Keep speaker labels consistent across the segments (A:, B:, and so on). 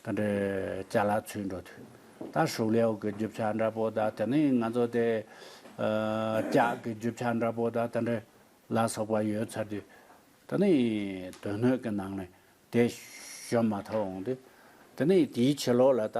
A: ད་འདྲའི་བྱ་ལ་ཚུད་འགྲོ་དུས། ད་ཧྲུའུ་ལེའོ་གི་རྒྱུ་ཆ་འདྲ་པོ་དང་དེ་ནས་ང་ཚོ་དེ། ལྕགས་ཀྱི་རྒྱུ་ཆ་འདྲ་པོ་དང་དེ་འདྲའི་ལ་སོགས་པ་ཡོད་ཚར་དུས། དེ་ནས་དོན་སྣོད་ཀྱི་ནང་ནས་དེ་ཞོན་མ་ཐག་འོང་དུས། དེ་ནས་དེའི་ཕྱི་ལོགས་ལ་ད།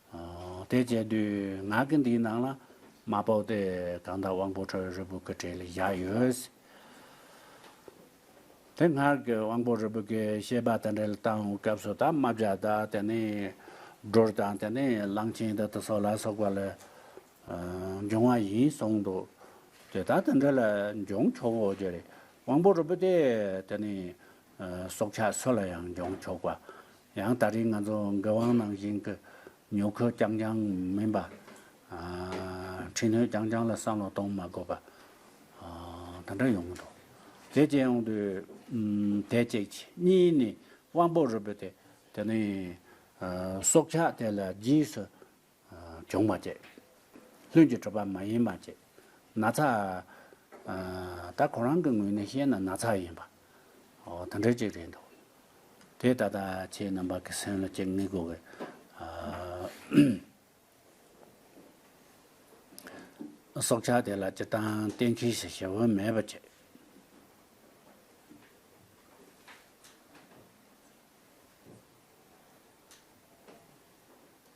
A: དེ་བཅད་དུས་ང་གི་འདིའི་ནང་ལ་མ་དཔོག་སྟེ་གང་དག་དབང་པོ་ཁྲོའི་རིལ་བུ་ཀི་ཀྲེ་ལི་བཞག་ཡོད། དེ་སྔར་གྱི་དབང་པོ་རིལ་བུ་ཀི་ཤེས་པ་དང་འབྲེལ་བཏང་བའི་སྐབས་སུ་དང་དམར་བྱ་དང་དེ་ནས་སྒྲོར་དང་དེ་ནས་གླང་ཆེན་དང་དུ་སོགས་ལ་སོགས་པ་ལས་འབྱུང་བ་ཡིན་གསུངས་འདུག་དེ་དག་དང་འབྲེལ་འབྱུང་ཆོག་གོ་རྒྱུ་རེད། དབང་པོ་རིལ་བུ་དེ་དེ་ནས་སྲོག་ཆགས་སུ་ལ་ཡང་འབྱུང་ཆོག་པ་ཡང་ད་རེས་ང་ཚོ་འགན་དབང་ནང་བཞིན་གྱི་ཉོ་འཁོས་རྐྱང་རྐྱང་མིན་པ། འཕྲི་སྣོན་རྐྱང་རྐྱང་ལ་བསམ་བློ་གཏོང་མ་དགོས་པ། དེ་འདྲ་ཡོང་གི་འདུག་དེ་བཅས་ཡོང་དུས། དེ་གཅིག་གྱིས་གཉིས་ནི་དབང་པོ་རུ་འབོད་དེ། དེ་ནས་སྲོག་ཆགས་དེ་ལ་རྗེས་སུ་འབྱུང་བ་ཅེས། ལྷུན་གྱིས་གྲུབ་པ་མ་ཡིན་པ་ཅེས། ན་ཚ། ད་ཁོ་རང་གི་ངོས་ནས་བཤད་ན་ན་ཚ་ཡིན་པ། དོན་འགྲེལ་གཅིག་རེད་འདུག། དེས་ད་ལྟ་ཁྱེད་རྣམ་པ་གི་སེམས་ལ་གཅིག་ངེས་དགོས་པའི། སྲོག་ཆགས་དེ་ལ་སྤྱིར་བཏང་གཏན་ཁེལ་ཞིག་ཞེ་བོ་མེད་པ་ཅེས།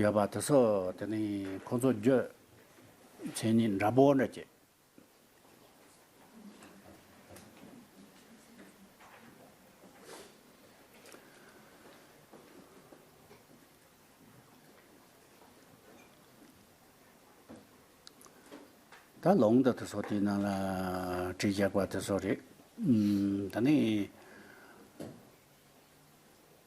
A: ཡོད་པ་དེ་སོགས་དེ་ནི་ཁོང་ཚོ་རྗོད་བྱེད་ནི་འདྲ་པོ་འདྲ་སྐྱེས། ད་ལོང་ད་དེ་སོགས་དེ་ནང་ལ་གྲི་རྒྱག་པ་དེ་སོགས་རེད། ད་ནི།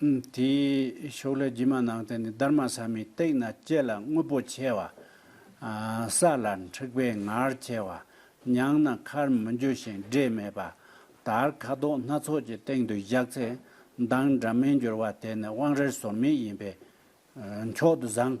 A: དེའི་ཕྱོགས་ལས་ཀྱི་མ་ནང་བསྟན་ནི་སྡར་མ་ཟ་མའི་སྟེང་ན་སྐྱེས་ལ་དངོས་པོ་ཆེ་བ། ས་ལ་འཁྲིགས་པའི་ངར་ཆེ་བ། མྱང་ན་ཁར་མི་འགྱུར་ཞིང་སྒྲས་མེད་པ། དར་ཁ་དོག་སྣ་ཚོགས་ཀྱི་སྟེང་དུ་བཞག་ཚེ་མདངས་འདྲ་མིན་འགྱུར་བ་དེ་ནི་དབང་རིལ་ཟོར་མིག་ཡིན་པས་མཆོག་ཏུ་བཟང།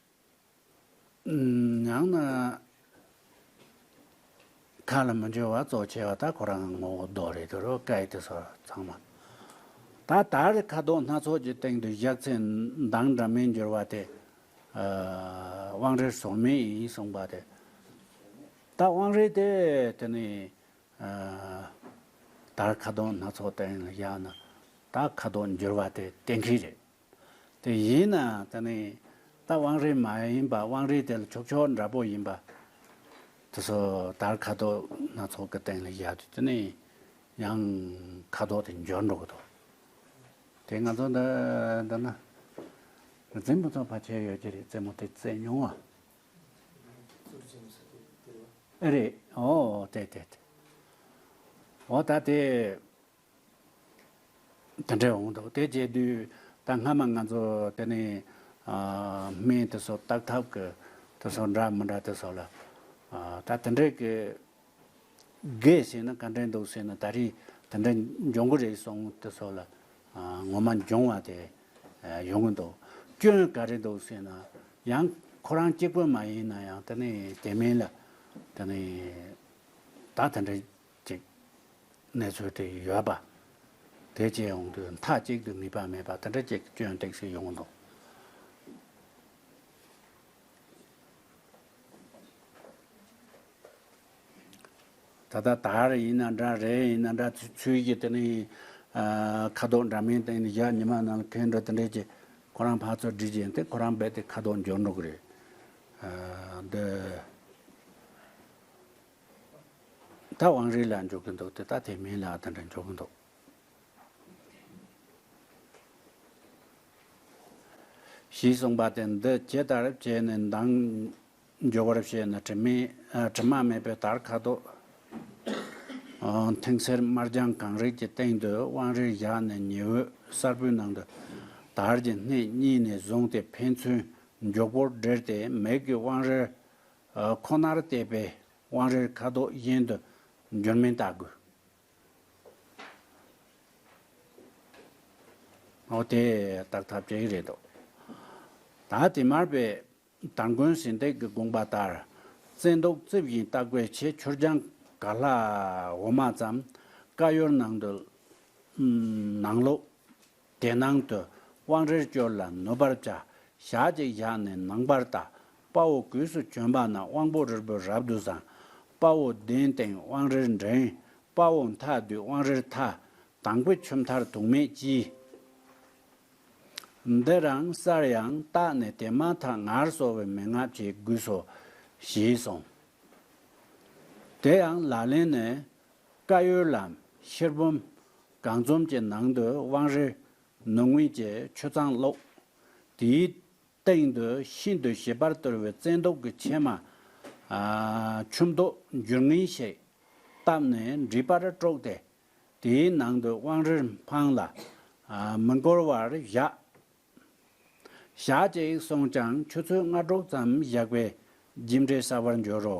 A: ཡང་ན་མཐའ་ལ་མི་འབྱོར་བར་གཙོ་ཆེ་བ་དག་ཁོ་རང་གི་ངོ་བོ་བཟློག་རེ་དུ་རུ་སྐད་དེ་སོགས་ཚང་མ། ད་ལྟར་གྱི་ཁ་དོག་སྣ་ཚོགས་ཀྱི་སྟེང་དུ་བཞག་ཚེ་མདངས་འདྲ་མིན་འགྱུར་བ་དེ། དབང་རིར་སོང་མིན་ཡིན་གསུངས་པ་དེ། ད་དབང་རི་དེ་དེ་ནི། ད་ཁ་དོག་སྣ་ཚོགས་སྟེང་ལ་བཞག་ན། ད་ཁ་དོག་འགྱུར་བ་དེ་གཏན་འཁེལ་རེད། དེ་ཡིན་ནའང་ད་ནི་རྟ་དབང་རིལ་མ་ཡིན་པ་དབང་རིལ་དེ་ལ་ཕྱོགས་ཕྱོགས་འདྲ་པོ་ཡིན་པ། དེ་སོ་ཐར་ཁ་དོག་སྣ་ཚོགས་ཀྱི་སྟེང་ལ་བཞག་དུས་དེ་ནི་ཡང་ཁ་དོག་དེ་འབྱོར་འགྲོ་གི་འདུག་དེ་ང་ཚོ་འདི་འདི་ན་རྫིང་བུ་ཚོ་བར་ཆད་ཡོད་ཀྱི་རེད་རྩེད་མོ་དེ་རྩེ་མྱོང་ཨ། ཨེ་རེད་ཨོ་དེ་དེ་དེ། འོ་ད་དེ། དེ་འདྲས་འོང་འདུག་དེ་བྱས་དུས་ད་སྔ་མ་ང་ཚོ་དེ་ནས་སྨན་དེ་ཚོ་བརྟག་ཐབས་ཀྱི་དེ་ཚོ་འདྲ་མི་འདྲ་དེ་ཚོ་ལ། ད་དེ་འདྲས་ཀྱི་དགེ་བྱས་ན་ག་འདྲས་འདུག་ཟེར་ན་ད་རེས་དེ་འདྲས་འབྱུང་གི་རེད་སོང་དེ་ཚོ་ལ་ངོ་མ་འབྱུང་བ་དེ་ཡོང་གི་འདུག་སྐྱོན་ག་རེ་འདུག་ཟེར་ན་ཡང་ཁོ་རང་གཅིག་པུ་མ་ཡིན་ན་ཡང་དེ་ནས་དེ་མིན་ལ་དེ་ནས་ད་དེ་འདྲས། ཅིག། གནས་ཚུལ་དེ་ཡོད་པ། དེ་བཅས་ཡོང་དུས་མཐའ་གཅིག་ཏུ་ནུས་པ་མེད་པ་དེ་འདྲ་ཅིག་སྐྱོན་སྟེགས་སུ་ཡོང་འདུག། ད་ལྟ་ད་རེས་ཡིན་ན་འདྲ་རེས་ཡིན་ན་འདྲ་ཚུལ་གྱི་དེ་ནི། ཁ་དོག་འདྲ་མིན་སྟེང་ནས་བཞག་ཉི་མ་ནང་ཁེལ་འདྲ་དེ་འདྲས་ཀྱི། ཁོ་རང་ཕར་ཚུར་བསྒྲིལ་བཞིན་དེ་ཁོ་རང་རྦད་དེ་ཁ་དོག་འགྱུར་འགྲོ་གི་རེད། འདི། ད་བང་རིས་ལ་འཇོག་གི་འདུག་དེ་ད་དེ་མིན་ལ་དེ་འདྲ་འཇོག་གི་འདུག། ཞེས་གསུངས་པ་དེ་འདི་ཇི་ལྟར་བྱས་ནས་མདངས་འཇོག་བར་བྱེད་ནི་དྲི་མེད་དྲི་མ་མེད་པའི་དར་ཁ་དོག་མཐིང་སེར་དམར་ལྗང་གང་རིགས་ཀྱི་སྟེང་དུ་བང་རིར་བཞག་ནས་ཉི་འོད་གསར་བུའི་ནང་དུ་དར་གྱི་སྣེ་གཉིས་ནས་བཟུང་སྟེ་ཕན་ཚུན་མགྱོགས་པོར་སྦྲེལ་ཏེ་མིག་གི་བང་རིར་ཁོ་ནར་བལྟས་པས་དབང་རེར་ཁ་དོག་གཞན་དུ་འགྱུར་མིན་བལྟ་དགོས། ཨོ་དེ་བརྟག་ཐབས་བྲལ་གྱི་རེད་འདོད། ད་དེ་མར་པས་དར་མགོན་ཟིན་ཏེག་གི་དགོངས་པ་ལྟར་བཙན་མདོག་རྩིབས་བཞིན་བརྟག་པའི་ཆེད་ཆུར་སྦྱང་ག་ལྷ་འོ་མ་ཙམ་ཀ་ཡོར་ནང་དུ་ནང་ལོག། དེ་ནང་དུ་དབང་རིར་སྤྱོར་ལ་ནུབ་པར་བྱ། ཞག་གཅིག་བཞག་ནས་ནང་པར་བལྟ། དཔའ་བོ་གུས་སུ་བྱོན་པ་ན་དབང་པོ་རིལ་པོ་རབ་ཏུ་བཟང། དཔའ་བོ་གདན་སྟེང་དབང་རིར་འགྲེང། དཔའ་བོ་མཐའ་སྡུད་དབང་རིར་ཐ། དང་པོའི་ཆུ་མཐར་དུག་མེད་ལྕི། འདི་རང་སར་ཡང་བརྟགས་ནས་དེ་མ་ཐག་ངར་གསོ་བའི་མན་ངག་བྱེད་དགོས་སོ། ཞེས་གསུངས། དེ་ཡང་ལག་ལེན་ནི། བཀའ་ཡོལ་ལམ་ཕྱིར་བུམ། སྒང་རྩོམ་གྱི་ནང་དུ་དབང་རི་ནུབ་ངོས་ཀྱི་ཆུ་གཙང་ཀློགས། དེའི་སྟེང་དུ་ཤིན་ཏུ་ཞིབ་པར་གཏོར་བའི་བཙན་མདོག་གི་ཕྱེ་མ། ཆུ་མདོག་འགྱུར་ངེས་ཤིག་བཏབ་ནས་འབྲི་པར་དཀྲོགས་ཏེ། དེའི་ནང་དུ་དབང་རིར་འཕངས་ལ་མི་འགོར་བར་བཞག། ཞག་གཅིག་སོང་ཀྱང་ཆུ་ཚོད་ལྔ་དྲུག་ཙམ་བཞག་པས་རྒྱུ་འབྲས་གསར་བར་འགྱུར་རོ།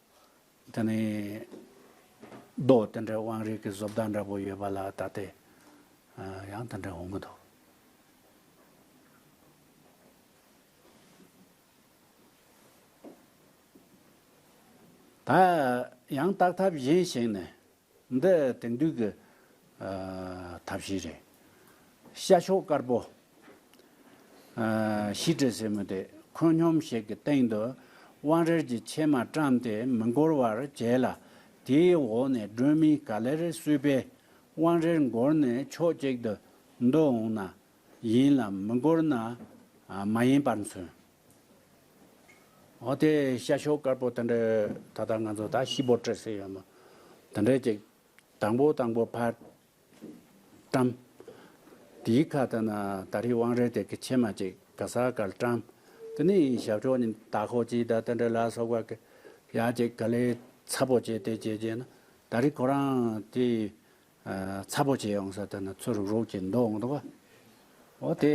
A: དེ་ནི། རྡོ་དེ་འདྲའི་དབང་རིས་ཀྱི་བཟོ་ལྟ་འདྲ་པོ་ཡོད་པ་ལ་ད་ལྟའི་ཡང་དེ་འདྲའི་འོང་གི་འདུག། ད་ཡང་བརྟག་ཐབས་གཞན་ཞིག་ནི། འདི་དེང་དུས་ཀྱི་ཐབས་ཤེས་རེད། ཤ་ཤོག་དཀར་པོ། ཤི་ཏྲི་ཟེར་མོ་དེ་ཁོད་སྙོམས་ཤིག་གི་སྟེང་དུ་དབང་རལ་གྱི་ཕྱེ་མ་བཀྲམ་སྟེ་མི་འགོར་བར་བྱས་ལ། དེའི་འོག་ནས་སྒྲོན་མེ་ག་ལེར་བསུས་པས་དབང་རལ་འགོར་ནས་ཕྱོགས་གཅིག་ཏུ་འདུ་འོང་ན་ཡིན་ལ་མི་འགོར་ན་མ་ཡིན་པར་མཚོན། འོ་དེ་ཤ་ཤོ་དཀར་པོ་དེ་འདྲའི་ད་ལྟ་ང་ཚོ་ད་ཤི་བོ་སྤྲད་སྲིད་ཡོད་མོད། དེ་འདྲའི་ཅིག་དང་པོ་དང་པོ་ཕར་བཀྲམ། དེའི་ཁ་ད་ན་ད་རི་དབང་རེད་དེ་གི་ཕྱེ་མ་ཅིག་ག་ས་ག་ལ་བཀྲམ། དེ་ནི་ཞབས་ཕྱོགས་ནི་ད་ཁོ་ཅིག་ད་དེ་འདྲའི་ལ་སོགས་པ་གི་ཡ་ཅིག་ག་ལས་ཚ་པོ་བྱས་དེ་བྱས་བྱས་ན་ད་རི་ཁོ་རང་དེ། ཚ་པོ་བྱས་ཡོང་ས་དེ་ན་ཚུར་རུག་རུག་བྱས་འདུག་འོང་འདུག་ཨོ་དེ་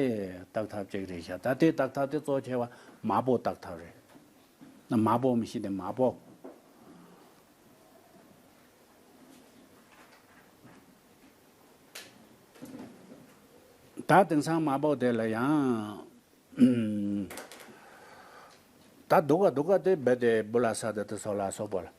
A: བརྟག་ཐབས་ཅིག་རེད་བྱས་ད་དེ་བརྟག་ཐབས་དེ་གཙོ་ཆེ་བ་མ་བོ་བརྟག་ཐབས་རེད། ན་མ་བོ་མི་ཤེས་དེ་མ་བོ། ད་དེང་སང་མ་བོ་དེ་ལ་ཡང། ད་འདུག་ག་འདུག་ག་དེ་རྦད་དེ་སྦུ་ལ་ས་དེ་དེ་སོགས་ལ་སོགས་པོ་ལ།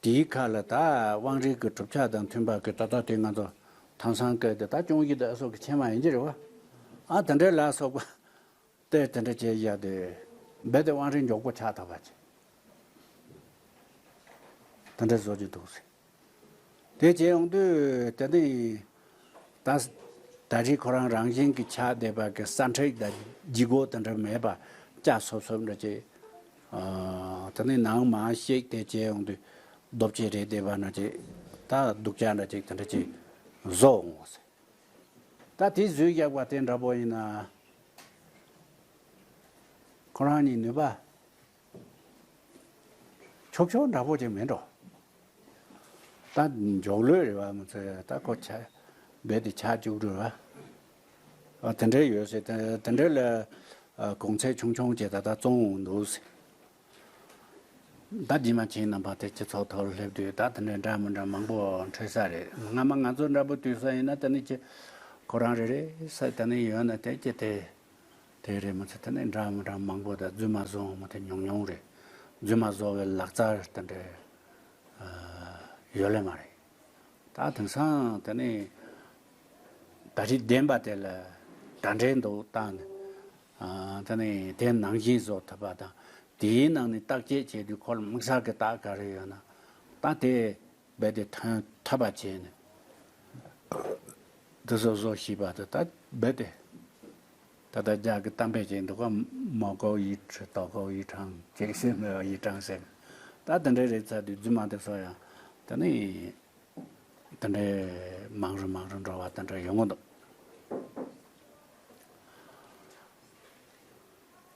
A: དེའི་ཁ་ལ་ད་དབང་རིགས་ཀྱི་གྲུབ་ཆ་དང་མཐུན་པ་གི་ད་ད་དེ་ང་ཚོ་ཐང་སང་སྐད་དེ་ད་སྐྱོང་བཞི་ད་སོགས་ཀྱི་ཆེན་མ་ཡིན་གྱི་རེད་བ། ཨ་དེ་འདྲའི་ལ་སོགས་པ་དེ་དེ་འདྲ་བྱས་བཞག་དེ་རྦད་དེ་དབང་རིགས་མགྱོགས་པོ་ཆགས་ཐག་པ་ཅི། དེ་འདྲའི་བཟོ་གྱི་འདུག་ཟེར། དེ་བྱས་ཡོང་དུས་དེ་འདི་ཡིན། ད་ད་རེས་ཁོ་རང་རང་བཞིན་གྱི་ཆ་སྡེ་པ་གི་སྲ་མཁྲེགས་དང་ལྗིད་དགོ་དེ་འདྲ་མེད་པ་སྐྱ་སོབ་སོབ་འདྲ་བྱེད། དེ་ནས་ནང་མ་ཞིག་དེ་བྱེད་འོང་དུས་རྡོ་བཅས་རེད་སྡེ་པ་འདྲ་བྱེད། ད་སྡུག་ཅག་འདྲ་བྱེད་དེ་འདྲ་བྱེད་བཟོ་འོང་བ་ཟེར། ད་དེ་བཟོས་བཞག་པ་དེ་འདྲ་པོ་ཡིན་ན། ཁོ་རང་གཉིས་ནུས་པ། ཆོག་ཆོག་འདྲ་པོ་ཅིག་མིན་འགྲོ། ད་འཇོག་ལོས་རེད་བ་མི་ཚེ་ད་ཁོ་ཆ་རྦད་དེ་ཆག་བཅུག་འགྲོ། དེ་འདྲའི་ཡོད་སྲིད་དེ་འདྲའི་ལ་གོང་ཚད་ཆུང་ཆུང་ཅིག་ད་ལྟ་བཙོང་འདུག་སྲིད། ད་རྗེས་མ་ཁྱེད་རྣམ་པ་དེ་སྤྱི་ཚོགས་ཐོག་སླེབས་དུས་ད་དེ་འདྲའི་འདྲ་མི་འདྲ་མང་པོ་འཕྲོད་ས་རེད་སྔ་མ་ང་ཚོ་འདྲ་པོ་དུས་ས་ཡིན་ན་དེ་ནི་ཁྱེད་ཁོ་རང་རེ་རེ་ས་དེ་ནི་ཡོད་ན་དེ་ཁྱེད་དེ། དེ་རེད་མ་ཚད་ད་ནི་འདྲ་མི་འདྲ་མང་པོ་དང་རྫུན་མ་བཟོ་འོང་བ་དེ་ཉུང་ཉུང་རེད། རྫུན་མ་བཟོ་བའི་ལག་རྩལ་དེ་འདྲ་ཡོད་ལེ་མ་རེད། ད་དེང་སང་དེ་ནི་ད་རིག་ལྡན་པ་དེ་ལ་དྲ་འབྲེལ་འདུག་བཏང་ནས་དེ་ནི་དེ་ནང་བཞིན་བཟོ་ཐུབ་པ་དང་དེའི་ནང་ནས་བརྟག་དཔྱད་བྱས་དུས་ཁོ་ལ་དམིགས་བསལ་གྱི་རྟགས་ག་རེ་ཡོད་ན་ད་དེ་རྦད་དེ་ཐོན་ཐབས་པ་བྱས་ནས་འདི་བཟོ་བཟོ་བྱས་པ་དེ་དག་རྦད་དེ་ད་ལྟ་རྒྱ་གི་གཏམ་དཔེ་བྱས་འདུག་གམ་མ་ཀོའུ་ཡི་ཁྲི་ཏོ་ཀོའུ་ཡི་ཁྲང་ཅེས་བཤད་མོད་ཡི་ཀྲང་ཟེར་མོད་ད་དེ་འདྲའི་རེད་ཚ་དུས་རྫུན་མ་དེ་བཟོ་ཡང་དེ་ནི་དེ་འདྲའི་མང་རུ་མང་རུ་འགྲོ་བ་དེ་འདྲ་ཡོང་གི་འདུག།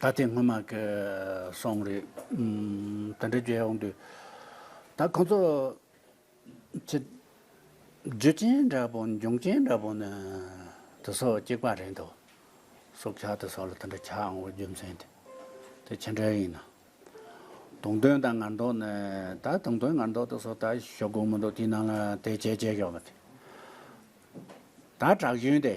A: ད་དེ་སྔོན་མ་གི་སོང་རེད། དེ་འདྲ་བརྗོད་ཡོང་དུས། ད་ཁོང་ཚོ། ཚེ། རྒྱུ་ཅན་འདྲ་པོ་འབྱུང་ཅན་འདྲ་པོ་ནི། དེ་སོགས་གཅིག་པ་རེད་འདུག། སྲོག་ཆགས་དེ་སོགས་ལ་དེ་འདྲ་ཆགས་འོང་བའི་རྒྱུ་མཚན་དེ། དེ་ཅི་འདྲ་ཡིན་ནམ། དུང་དོན་དང་ངར་མདོག་ནི། ད་དུང་དོན་ངར་མདོག་དེ་སོགས་ད་ཞོག་དགོས་མི་འདུག་དེའི་ནང་ལ་དེ་བྱས་བྱས་ཞོག། ད་དྲག་ཞོན་དེ།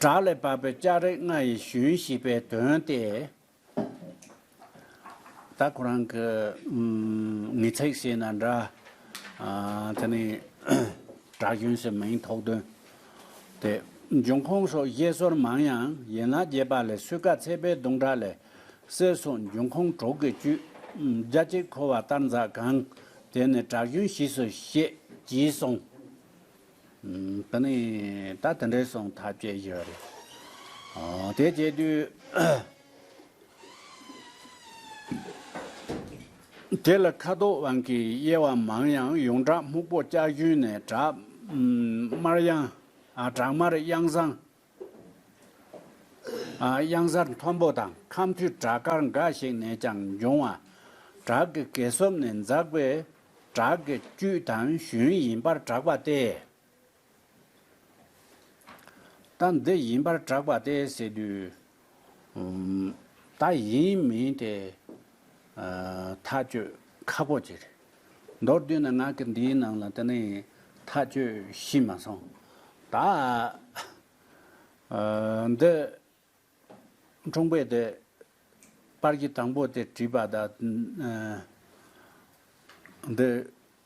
A: བྲག་ལས་བབས་པའི་ལྕགས་རི་ལྔ་ཡི་ཞུན་ཞེས་པའི་དོན་ཏེ། ད་ཁོ་རང་གི་མི་ཚེ་ཞེས་ན་འདྲ། དེ་ནི་བྲག་ཞུན་ཞེས་མིང་ཐོགས་དོན་ཏེ། འབྱུང་ཁུངས་སོགས་བཤད་སྲོལ་མང་ཡང་ཡན་ལག་བརྒྱད་པ་ལས་སུས་ཀ་ཚད་པའི་གདུང་དྲག་ལས་གསེར་སོགས་འབྱུང་ཁུངས་དྲུག་གི་བཅུད། རྒྱ་སྐྱེགས་ཁོལ་བ་ལྟར་འཛག་གང། དེ་ནི་དྲག་ཞུན་ཞིས་སུ་བཤད། ཅེས་གསུངས། དེ་ནི་ད་དེ་འདྲའི་གསུང་ཐབས་སྤྱད་རྒྱུ་རེད། དེ་སྤྱད་དུས། དེ་ལ་ཁ་དོག་དབང་གིས་དབྱེ་བ་མང་ཡང་ཡོངས་གྲགས་སྨུག་པོ་ལྕགས་ཞུན་ནས་དྲག་དམར་དབྱངས། དྲག་དམར་དབྱངས་བཟང། གཡང་གཟར་མཐོན་པོ་དང་ཁམས་མཐུད་བྲག་དཀར་འགའ་ཞིག་ནས་ཀྱང་འབྱུང་བ། བྲག་གི་གས་སྲོབ་ནས་འཛག་པའི་བྲག་གི་བཅུད་དང་ཞུན་ཡིན་པར་གྲགས་པ་སྟེ། རྟ་འདི་ཡིན་པར་གྲགས་པ་སྟེ་ཟེར་དུས། ད་ཡིན་མིན་དེ་ཐག་གཅོད་ཁག་པོ་གཅིག་རེད། མདོར་བསྡུས་ན་ང་གིས་འདིའི་ནང་ལ་དེ་ནས་ཐག་གཅོད་ཤེས་མ་སོང། ད་འདི་འཁྲུངས་པའི་དེ་པར་གཞི་དང་པོ་དེ་བྲིས་པ་ད་འདི།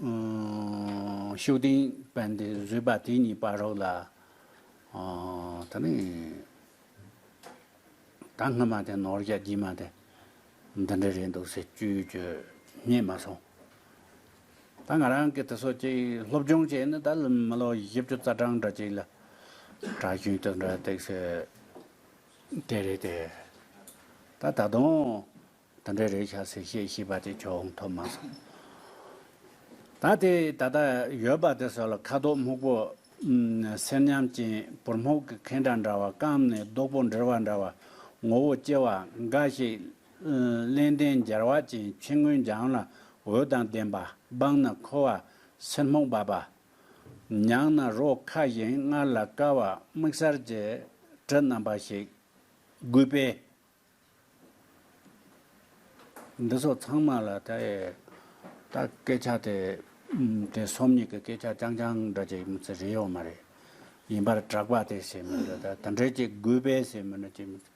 A: ཤུགས་ལྡན་པན་དེ་བཟོས་པ་དེ་གཉིས་པར་རོགས་ལ། ད་ནི། ད་སྔ་མ་དེ་ནོར་རྒྱ་རྒྱུས་མ་དེ། འདི་འདྲ་རེད་འདུག་ཟེར་རྒྱུ་རྒྱུ་རྙེད་མ་སོང། ད་ང་རང་གི་དེ་སོ་ཅིག་སློབ་སྦྱོང་བྱས་ནི་ད་མི་ལོ་བཞི་བཅུ་རྩ་གྲངས་འདྲ་ཅིག་ལ། གྲྭ་གཞུང་དུ་འདྲ་སྟེགས་སོད་དེ་རེད་དེ། ད་ད་དུང་ད་འདྲ་རེད་བྱ་ཟེར་ཤེས་ཤེས་པ་དེ་ཁྱོད་འོང་ཐོབ་མ་སོང། ད་དེ་ད་ལྟ་ཡོད་པ་དེ་སོགས་ལ་ཁ་དོག་སྨུག་པོ། སེར་ཉམས་ཅན་བུར་སྨུག་གི་ཁེན་འདྲ་འདྲ་བ་སྐམ་ནས་རྡོག་པོ་འདྲིལ་བ་འདྲ་བ། ངོ་བོ་སྐྱེ་བ་འགའ་ཞིག། གླེན་ལྡན་སྦྱར་བ་ཅན་ཕྱི་ངོས་འཇམ་ལ་འོད་དང་ལྡན་པ་སྦངས་ན་ཁོ་བ་སེར་སྨུག་འབབ་པ། མྱངས་ན་རོ་ཁ་བཞིན་མངར་ལ་དཀར་བ་མིག་གསར་གྱི་དྲི་རྣམ་པ་ཞིག། རྒུད་པས་འདི་སོགས་ཚང་མ་ལ་ད་ཡས་ད་སྐད་ཆ་དེ་དེ་སོམ་ཉི་གི་སྐད་ཆ་རྐྱང་རྐྱང་འདྲ་ཅིག་མི་ཚེ་རེ་ཡོད་མ་རེད། ཡིན་པར་གྲགས་པ་དེ་བྱེད་མི་འདོད་ད་དེ་འདྲས་ཅིག་དགོས་པས་བྱེད་མི་འདོད་ཅིག་མི་ཚེ་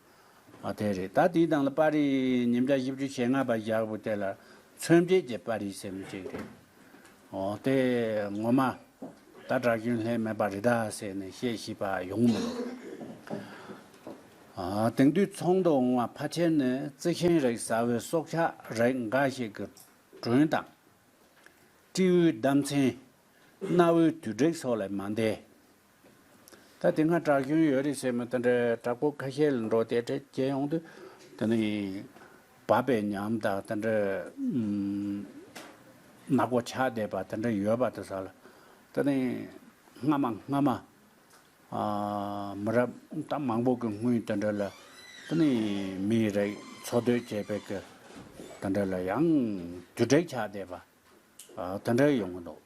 A: ཨ་དེ་རེད་ད་དེའི་དང་ལ་པར་རིས་ཉིན་བརྒྱ་བཞི་བཅུ་ཞེ་ལྔ་པ་བཞག་པོ་དེ་ལ་མཚོན་བྱེད་ཀྱི་པར་རིས་བྱེད་མི་ཅིག་རེད། འོ་དེ་ངོ་མ། ད་གྲྭ་རྒྱུན་ལྷད་མེད་པ་རི་དྭགས་ཟས་ནས་བཤད་ཤེས་པ་ཡོང་མི་འདུག། དེང་དུས་ཚོང་དུ་འོང་བ་ཕ་ཆེར་ནི་རྩི་ཤིང་རེག་ཟ་བའི་སྲོག་ཆགས་རེག་འགའ་ཞིག་གི་དྲུང་དང། སྤྲེའུའི་ལྡམ་ཚན། གནའ་བོའི་དུད་དྲེག་སོགས་ལས་མ་འདས། ད་དེ་སྔ་དྲག་གཞུང་ཡོད་རེད་ཟེར་མི་དེ་འདྲ་དྲག་པོ་ཁ་ཤས་ལ་འགྲོ་དེ་འདྲས་བྱེད་ཡོང་དུས་དེ་ནི་བབ་པའི་ཉམས་དང་དེ་འདྲས་ནག་པོ་ཆགས་བསྡད་པ་དེ་འདྲ་ཡོད་པ་དེ་ས་ལ་དེ་ནི་སྔ་མ་སྔ་མ་མི་རབས་ད་མང་པོ་གི་སྔུན་དེ་འདྲ་ལ་དེ་ནི་མིའི་རིགས་འཚོ་སྡོད་བྱེད་པའི་གི་དེ་འདྲ་ལ་ཡང་དུས་དྲེག་ཆགས་བསྡད་པ། དེ་འདྲ་ཡོང་གི་འདུག་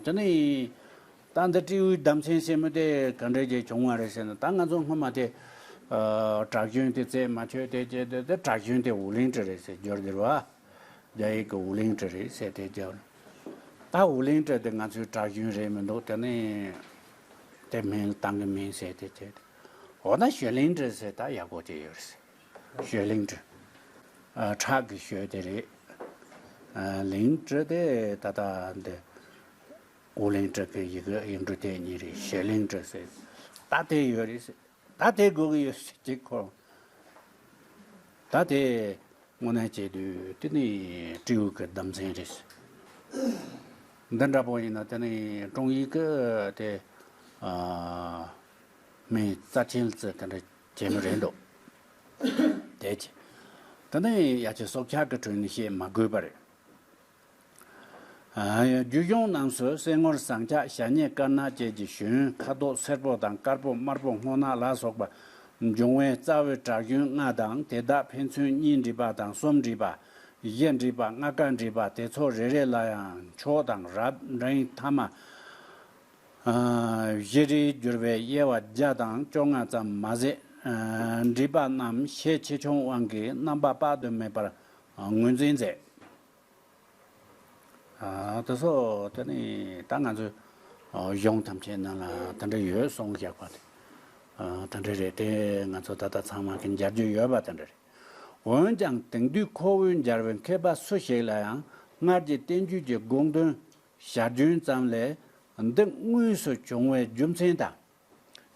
A: དེ་ནི། ད་འདི་སྤྲེའུའི་ལྡབ་མཚན་ཞེས་མི་དེ་ག་འདྲའི་རྗེས་བྱུང་བ་རེད་ཟེར་ན་ད་ང་ཚོ་སྔོན་མ་དེ། གྲགས་རྒྱུན་དེ་རྩད་མ་ཆོད་དེ་ཅེས་དེ་གྲགས་རྒྱུན་དེ་ཝུ་ལིང་ཀྲི་རེད་ཟེར་རྒྱུར་འགྱུར་བ། རྒྱ་ཡིག་གི་ཝུ་ལིང་ཀྲི་རེད་ཟེར་དེ་རྒྱུར། ད་ཝུ་ལིང་ཀྲི་དེ་ང་ཚོའི་གྲགས་རྒྱུན་རེད་མི་འདུག་དེ་ནི། དེ་མིན་ལ་བཏང་གི་མིན་ཟེར་དེ་ཅེས་དེ། འོ་ན་ཞོན་ལིང་ཀྲི་ཟེར་ད་ཡག་པོ་དེ་ཡོད་རེད་ཟེར། ཞོལ་གླིང་བྲོ། ཁྲག་གི་ཞོལ་དེ་རེད། གླིང་བྲོ་དེ་ད་ལྟ་འདི་ཨོ་གླིང་བྲོ་དེ་ཡི་གེ་ཡིག་འབྲུ་དེ་གཉིས་རེད་ཞོལ་གླིང་བྲོ་ཟེར། ད་དེ་ཡོད་རེད་ཟེར། ད་དེ་དགོས་ཀྱི་ཡོད་ཟེར་གྱི་ཁོ་རང། ད་དེ་དངོས་གནས་བྱས་དུས་དེ་ནི་སྤྲེའུ་གི་ལྡུམ་ཚན་རེད་ཟེར། འདི་འདྲ་པོ་ཡིན་ན་དེ་ནི་དྲུང་ཡིག་གི་དེ་མི་རྩ་ཆེན་ཚོས་དེ་འདྲ། རྗེས་མ་རེད་འདུག་དེའི་ཕྱིར། ད་ལྟ་ཡང་ཡ་ཆེ་སྲོག་ཆགས་ཀྱི་ཁྲོད་ནས་བཤད་མ་དགོས་པར། རྒྱུད་གཞུང་རྣམས་སུ་སེང་ངོར་ཟངས་ལྕགས་ཞྭ་སྙེད་དཀར་ནག་བཅས་ཀྱི་ཞོན་ཁ་དོག་སེར་པོ་དང་དཀར་པོ་དམར་པོ་སྔོ་ནག་ལ་སོགས་པ་འབྱུང་བས་རྩ་བའི་བྲག་ཞོན་ལྔ་དང་དེ་དག་ཕན་ཚུན་གཉིས་འདྲིས་པ་དང་གསུམ་འདྲིས་པ། བཞི་འདྲིས་པ་ལྔ་ཀ་འདྲིས་པ་དེ་ཚོ་རེ་རེ་ལ་ཡང་མཆོག་དང་རབ་འབྲིང་ཐ་མ། བཞི་རིལ་བསྒྱུར་བའི་དབྱེ་བ་བརྒྱ་དང་བཅོ་ལྔ་ཙམ་མ་ཟད། འདྲིས་པ་རྣམས་ཤས་ཆེ་ཆུང་དབང་གིས་རྣམ་པ་དཔག་ཏུ་མེད་པར་ངོས་འཛིན་མཛད། དེ་སོགས་དེ་ནི་ད་ང་ཚོས་གཞུང་ཐམས་ཅད་ནང་ལ་དེ་འདྲ་ཡོད་གསུངས་བཞག་པ་དེ་དེ་འདྲ་རེད་དེ་ང་ཚོ་ད་ལྟ་ཚང་མ་གིས་མཇལ་རྒྱུ་ཡོད་པ་དེ་འདྲ་རེད། འོན་ཀྱང་དེང་དུས་ཁོ་བོའི་མཇལ་བའི་མཁས་པ་སུ་ཞིག་ལ་ཡང་སྔར་གྱི་བསྟན་བཅོས་ཀྱི་དགོངས་དོན་ཞར་རྒྱུན་ཙམ་ལས་འདི་དངོས་སུ་བྱུང་བའི་རྒྱུ་མཚན་དང།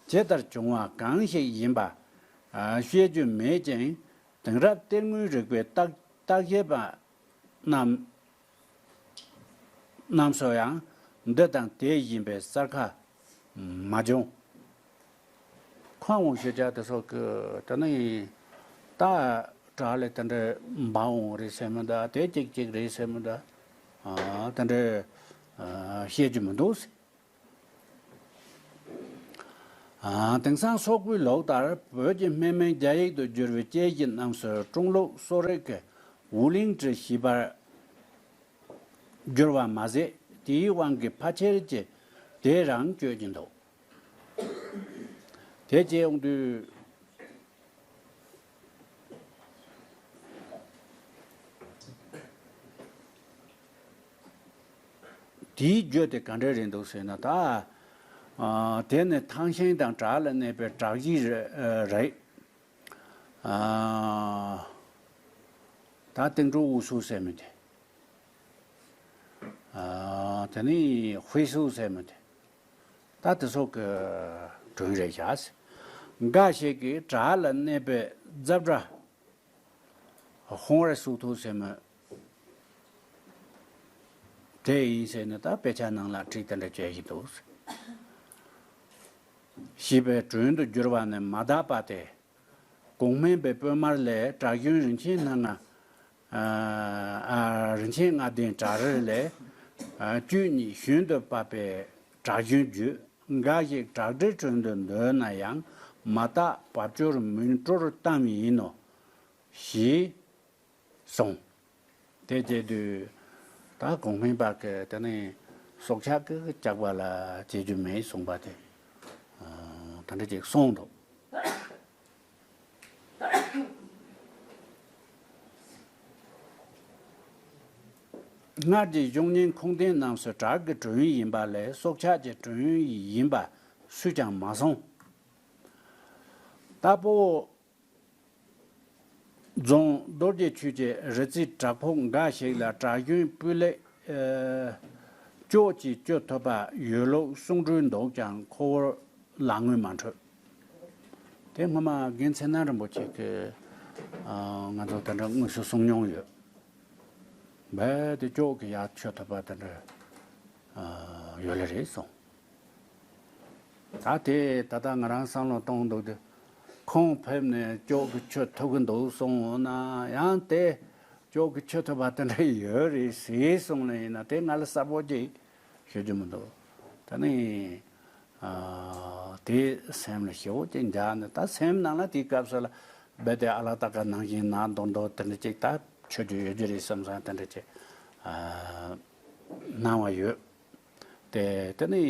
A: ཇི་ལྟར་བྱུང་བ་གང་ཞིག་ཡིན་པ། བཤད་རྒྱུ་མེད་ཅིང་དེང་རབས་གཏེར་དངོས་རིག་པའི་བརྟག་དཔྱད་པ་རྣམས་རྣམས་སུ་ཡང་འདི་དང་དེ་ཡིན་པའི་གསར་ཁ་མ་བྱུང། ཁོང་ཞེས་བྱ་སྟེ་སོགས་ཀྱི་དེ་ནི་ཡིན། བཏགས་གྲགས་ལས་དེ་འདྲའི་འབའ་འོང་རེ་ཟེར་མི་གདའ་དེ་གཅིག་ཅིག་རེད་ཟེར་མི་གདའ། དེ་འདྲའི་བཤད་ཀྱི་མི་འདུག་ཟེར། དེང་སང་སོག་པོའི་ལུགས་ལྟར་བོད་ཀྱི་སྨན་མིང་རྒྱ་ཡིག་ཏུ་བསྒྱུར་བའི་དཔྱད་གཞི་རྣམས་སུ་ཀྲུང་ལུགས་གསོ་རིག་གི་ཝུ་ལིང་ཀྲི་ཞེས་པར་བསྒྱུར་བ་མ་ཟད་དེའི་དབང་གིས་ཕ་ཁྱེར་གྱི་དེ་རང་བསྐྱོད་ཀྱི་འདུག། དེ་རྗེས་ཨོང་དུས། དེའི་རྒྱུ་དེ་ག་འདྲ་རེད་འདུག་ཟེར་ན་ད། དེ་ནི་ཐང་ཤིང་དང་བྲག་ལ་གནས་པའི་བྲག་གཞི་རེད། ད་སྟེང་ཁྲོ་འུ་སུ་ཟེར་མི་དེ། དེ་ནི་བྷི་སུ་ཟེར་མི་དེ། ད་དེ་སོག་གི་དྲུང་རེད་བྱ། འགའ་ཞིག་གིས་བྲག་ལ་གནས་པའི་རྫབ་འདྲ། ཧོང་བར་ཞུགས་ཐུབ་ཟེར་མོད། དེ་ཡིན་ཟེར་ནས་ད་དཔེ་ཆ་ནང་ལ་བྲིས་དེ་འདྲ་བྱེད་བཞིན་འདུག། བྱིས་པའི་དྲུང་དུ་གྱུར་པ་ནི་མ་དག་པ་སྟེ། གུང་སྨན་པའི་དཔོན་དམར་ལས་གྲགས་གཞོན་རིན་ཆེན་སྣ་ལྔ། རིན་ཆེན་ལྔ་ལྡན་བྲག་རིར་ལས། བཅུད་ནི་ཞུན་དུ་བབས་པས་བྲག་ཞུན་བརྗོད། འགའ་ཞིག་བྲག་གྲི་དྲུང་དུ་འདོད་ན་ཡང། མ་བརྟགས་བབས་སྦྱོར་མུན་སྤྲོར་གཏམ་ཡིན་ནོ། ཞེས་གསུངས། དེ་བཅས་དུས་ད་གོང་མའི་བར་གྱི་དེ་ནས་སྲོག་ཆགས་ཀྱི་བཅག་པ་ལ་བྱེད་རྒྱུ་མེད་གསུངས་པ་དེ། ད་འདི་གཅིག་གསུངས་འདུག། སྔར་གྱི་གཞུང་ཉིན་གུང་ཐེངས་རྣམས་སུ་བྲག་གི་གྲོན་ཡིན་པ་ལས་སྲོག་ཆགས་ཀྱི་གྲོན་ཡིན་པ་སུས་ཀྱང་མ་གསུངས། རྟ་ཕོ། རྫོང་རྡོ་རྗེ་ཆུས་ཀྱི་རི་རྩེའི་བྲག་ཕོ་འགའ་ཞིག་ལ་བྲག་གཞོན་སྤུས་ལེགས། སྐྱོགས་ཀྱིས་བསྐྱོད་ཐུབ་པ་ཡོད་ལུགས་གསུངས་འཁྲུལ་འདུག་ཀྱང་ཁོ་བོར་ལག་དངུལ་མ་འཕྲོད། དེ་སྔོན་མ་དགེ་མཚན་སྣང་རིན་པོ་ཆེ་གིས་ང་ཚོ་དེ་འདྲ་དངོས་སུ་གསུངས་མྱོང་ཡོད། རྦད་དེ་ཅོག་གི་ཡར་མཆོད་ཐོབ་པ་དེ་འདྲ་ཡོད་ལེ་རེད་གསུངས། ད་དེ་ད་ལྟ་ང་རང་བསམ་བློ་གཏོང་འདུག་དེ་ཁོང་ཕེབས་ནས་ཅོག་གི་མཆོད་ཐོབ་གི་འདུག་གསུངས་ན་ཡང་དེ་ཅོག་གི་མཆོད་ཐོབ་པ་དེ་འདྲ་ཡོད་རེད་ཟེར་གསུངས་ལ་ཡིན་ན་དེ་ང་ལ་གསལ་པོ་གཅིག་ཤོད་རྒྱུ་མི་འདུག་ད་ནི་དེ་སེམས་ལ་ཞེ་བོ་ཅིག་འཇགས་ནས་ད་སེམས་ནང་ལ་དེའི་སྐབས་སུ་ལ་རྦད་དེ་ཨ་ལ་ད་ག་ནང་བཞིན་ནང་མདོག་མདོག་དེ་འདྲ་ཅིག་ད་ཆོས་རྒྱུ་ཡོད་རྒྱུ་རེད་བསམ་བསམ་དེ་འདྲ་ཅིག་སྣང་བ་ཡོད། དེ་དེ་ནས་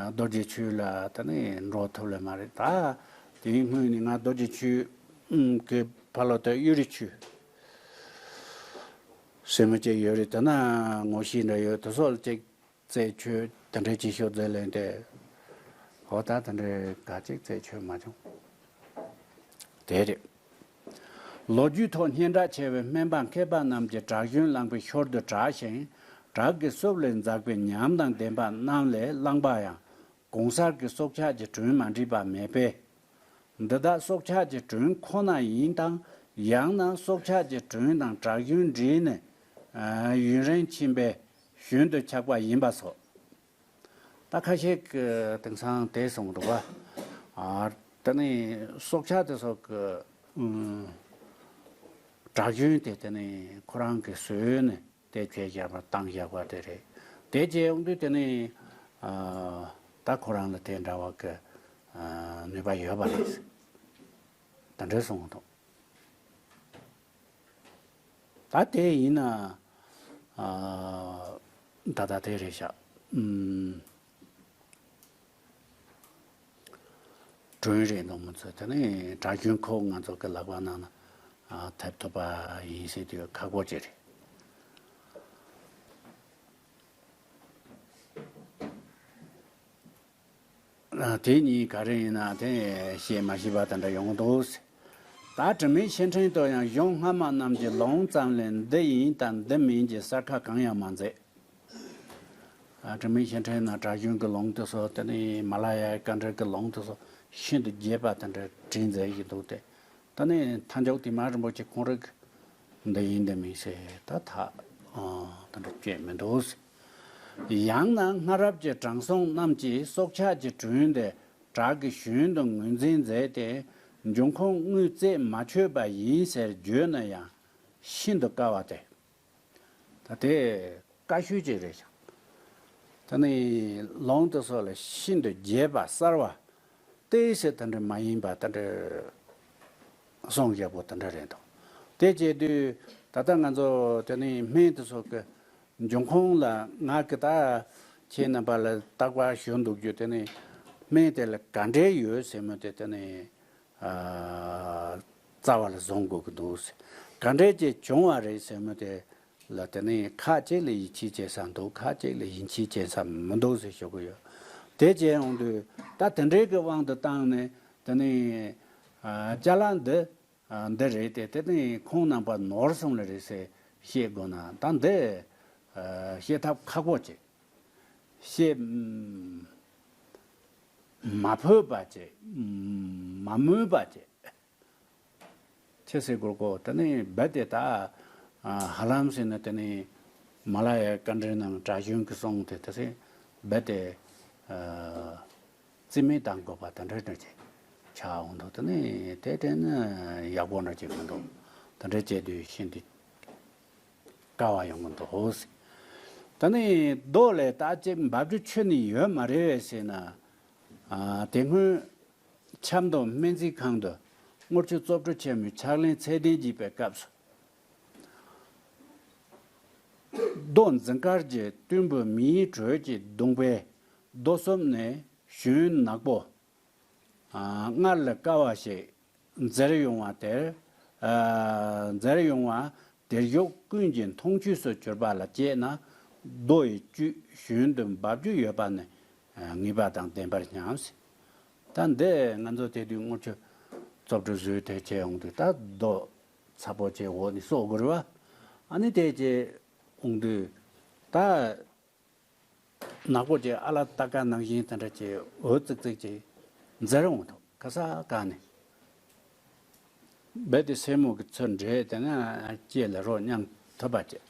A: རྡོ་རྗེ་ཆོས་ལ་དེ་ནས་འགྲོ་ཐུབ་ལེ་མ་རེད་ད་དེའི་སྔོན་ནས་ང་རྡོ་རྗེ་ཆོས་ཀྱི་ཕ་ལོ་དེ་གཡུ་རི་ཆོས་སེར་མོ་ཅིག་ཡོད་རེད་དེ་ན་ངོ་ཤེས་འདྲ་ཡོད་དེ་སོགས་ཅིག་རྩད་ཆོད་དེ་འདྲའི་བྱེད་ཤོག་རྫས་ལེན་ཏེ། ཧོ་ད་དེ་འདྲའི་དགའ་ཚིག་རྩད་ཆོད་མ་བྱུང། དེ་རེད། ལོ་རྒྱུས་ཐོག་སྙན་གྲགས་ཆེ་བའི་སྨན་པ་མཁས་པ་རྣམས་ཀྱི་བྲག་ཞུན་བླངས་པའི་ཞོར་དུ་བྲག་ཞིང་བྲག་གི་སྲོབ་ལས་འཛག་པའི་ཉམས་དང་ལྡན་པ་རྣམས་ལས་བླངས་པ་ཡང་གོང་གསར་གྱི་སྲོག་ཆགས་ཀྱི་གྲོན་མ་འདྲིས་པ་མེད་པས། འདི་དག་སྲོག་ཆགས་ཀྱི་གྲོན་ཁོ་ན་ཡིན་དང་ཡང་ན་སྲོག་ཆགས་ཀྱི་གྲོན་དང་བྲག་གཞོན་འདྲེས་ནས་ཡུན་རིང་ཕྱིན་པས་གཞོན་དུ་ཆགས་པ་ཡིན་པ་སོགས་རྟགས་ཁ་ཤས་ཀྱི་དེང་སང་དེ་གསུངས་འདུག་བ། དེ་ནི་སྲོག་ཆགས་དེ་སོགས་ཀྱི་བྲག་གཞོན་དེ་དེ་ནི་ཁོ་རང་གིས་ཟོས་ནས་དེ་ཁྱོད་བཞག་པ་དང་བཞག་པ་དེ་རེད། དེ་རྗེས་ཡོང་དུས་དེ་ནི་ད་ཁོ་རང་ལ་དེ་འདྲ་བ་གི་ནུས་པ་ཡོད་པ་རེད་ཟེར། དེ་འདྲས་སོང་འདུག་ད་དེ་ཡིན་ན་ད་ལྟ་དེ་རེད་བཞག། དྲུང་རེད་འདུག་མི་ཚོ་དེ་ནི་གྲྭ་རྒྱུན་ཁོ་ང་ཚོ་གི་ལག་པ་ནང་ན་ཐེབས་ཐུབ་པ་ཡིན་སྲིད་དུས་ཁག་པོ་ཅི་རེད། དེ་གཉིས་ག་རེ་ཡིན་ན་དེ་བཤད་མ་ཤེས་པ་དེ་འདྲ་ཡོང་འདུག་ཟེར། ད་དྲི་མེད་ཕྱིར་དྲན་དུ་ཡང་གཞུང་སྔ་མ་རྣམས་ཀྱི་ལུང་ཙམ་ལས་འདི་ཡིན་དང་འདི་མིན་གྱི་གསལ་ཁ་གང་ཡང་མ་མཛད། དྲི་མེད་ཞིང་བྲན་ན་བྲག་གཞུང་གི་ལུང་དུ་སོགས་དེ་ནས་མ་ལ་ཡའི་དཀའ་འགྲེལ་གྱི་ལུང་དུ་སོགས་ཤིན་ཏུ་རྒྱས་པ་དེ་འདྲ་བྲིས་མཛད་ཀྱི་འདུག་སྟེ། ད་ནི་མཐའ་མཇུག་དུ་མ་རིན་པོ་ཆེ་གང་རིགས་འདི་ཡིན་འདི་མིན་ཞེས་ད་ཐག་དེ་འདྲ་བསྐྱོན་མི་འདུག། ཡང་ན་སྔ་རབས་ཀྱི་དྲང་སྲོང་རྣམས་ཀྱིས་སྲོག་ཆགས་ཀྱི་དྲུང་དེ་བྲག་གི་གཞུང་དུ་ངོས་འཛིན་མཛད་དེ་འབྱུང་ཁུངས་དངུལ་རྩས་མ་ཆོད་པ་ཡིན་ཟེར་བརྗོད་ན་ཡང་ཤིན་ཏུ་དཀའ་བ་སྟེ། ད་དེ་ཀ་ཤོད་ཅིག་རེད་ཀྱང། ད་ནི་ལོང་དེ་སོགས་ལ་ཤིན་ཏུ་རྒྱས་པ་གསར་བ་ཏེ་ཞེས་ད་འདྲ་མ་ཡིན་པ་ད་འདྲ་སོང་ཞེས་པོ་ད་འདྲ་རེད་འདུག་དེ་བྱས་དུས་ད་ལྟ་ང་ཚོ་དེ་ནི་སྨན་དེ་སོགས་ཀྱི་འབྱུང་ཁུངས་ལ་ང་ཀི་ད་ཁྱེད་རྣམ་པ་ལ་བརྟག་པ་ཞུ་འདུག་རྒྱུ་དེ་ནི་སྨན་དེ་ལ་ག་འདྲས་ཡོད་ཟེར་མོད་དེ་ད་ནི་རྩ་བར་བཟུང་དགོས་ཀྱི་འདུག་ཟེར། ག་འདྲའི་རྗེས་བྱུང་བ་རེད་ཟེར་མོད་དེ་ལ་དེ་ནི་ཁ་ཅིག་ལ་ཡིད་ཆེས་བྱེད་ས་འདུག་ཁ་ཅིག་ལ་ཡིད་ཆེས་བྱེད་ས་མི་འདུག་ཟེར་ཞུ་གི་ཡོད། དེ་བྱས་འོང་དུས་ད་དེ་འདྲའི་གི་དབང་དུ་བཏང་ནས་དེ་ནི། བཅའ་ལ་འདི། འདི་རེད་དེ་དེ་ནི་ཁོང་རྣམ་པ་ནོར་སོང་ལ་རེད་ཟེར་བཤད་དགོས་ན་ད་འདི། བཤད་ཐབས་ཁག་པོ་ཅི། ཞེས་མ་འཕོས་པ་བྱས། མ་སྨོས་པ་བྱས། ཁྱེད་གསེར་གོར་གོ་དེ་ནས་རྦད་དེ་ད་ཧ་ལམ་ཟེར་ནས་དེ་ནས་མ་ལ་ཡའི་བཀའ་འགྲེལ་རྣམས་གྲྭ་གཞོན་གྱིས་གསུངས་ཏེ་དེ་སྲིད་རྦད་དེ་རྩིས་མེད་བཏང་དགོས་པ་དེ་འདྲ་འདྲ་བྱས། ཆ་འོང་འདུག་དེ་ནས་དེ་དྲན་ན་ཡག་པོ་འདྲ་བྱས་མི་འདུག་དེ་འདྲ་བྱས་དུས་ཤིན་ཏུ། དཀའ་བ་ཡོང་གི་འདུག་ཟེར། ད་ནི་རྡོ་ལས་རྟ་ཅེས་འབབ་རྒྱུ་ཆོས་ནི་ཡོད་མ་རེད་བས་ཟེར་ན། དེ་སྔོན་ཆབ་མདོ་སྨན་རྩིས་ཁང་དུ་དངུལ་ཆུ་བཙོ་བཀྲུ་ཆེན་མོའི་ཕྱག་ལེན་ཚད་ལྡན་བགྱིས་པའི་སྐབས་སུ། རྡོ་འཛིན་དཀར་གྱི་གཏུན་བུ་མིའི་དྲོད་ཀྱིས་བརྡུངས་པས་རྡོ་གསུམ་ནས་གཞོན་ནག་པོ། སྔར་ལས་དཀར་བ་ཞིག་མཛེར་ཡོང་བ་དེར། མཛེར་ཡོང་བ་དེར་ཡོད་ཀུན་གྱི་མཐོང་བཅུད་སུ་གྱུར་པ་ལ་སྐྱེས་ན། རྡོ་ཡི་བཅུད་ཞུན་དུ་འབབ་རྒྱུ་ཡོད་པ་ནི་ངེས་པ་དང་ལྡན་པར་སྙམ། ད་འདི་ང་ཚོ་དེ་དུས་དངུལ་ཆུ་བཙོ་བཀྲུ་བཟོས་དེ་བྱས་འོང་དུས་ད་རྡོ་ཚ་པོ་ཆེའི་འོག་ནས་གསོག་དགོས་རུ་བ། ཨ་ནི་དེ་བྱས་འོང་དུས་ད་ནག་པོ་དེ་ཨ་ལ་རྟ་སྐ་ནང་བཞིན་དེ་འདྲ་གྱི་འོད་རྩེག་རྩེག་ཅིག་མཛད་རུང་ཐོག་ཁ་སར་བཀག་ནས། རྦད་དེ་སེན་མོ་གི་ཚུལ་འདྲེས་དེ་ང་སྐྱེས་ལེ་རོགས་སྙམ་ཐུབ་པ་སྐྱེས།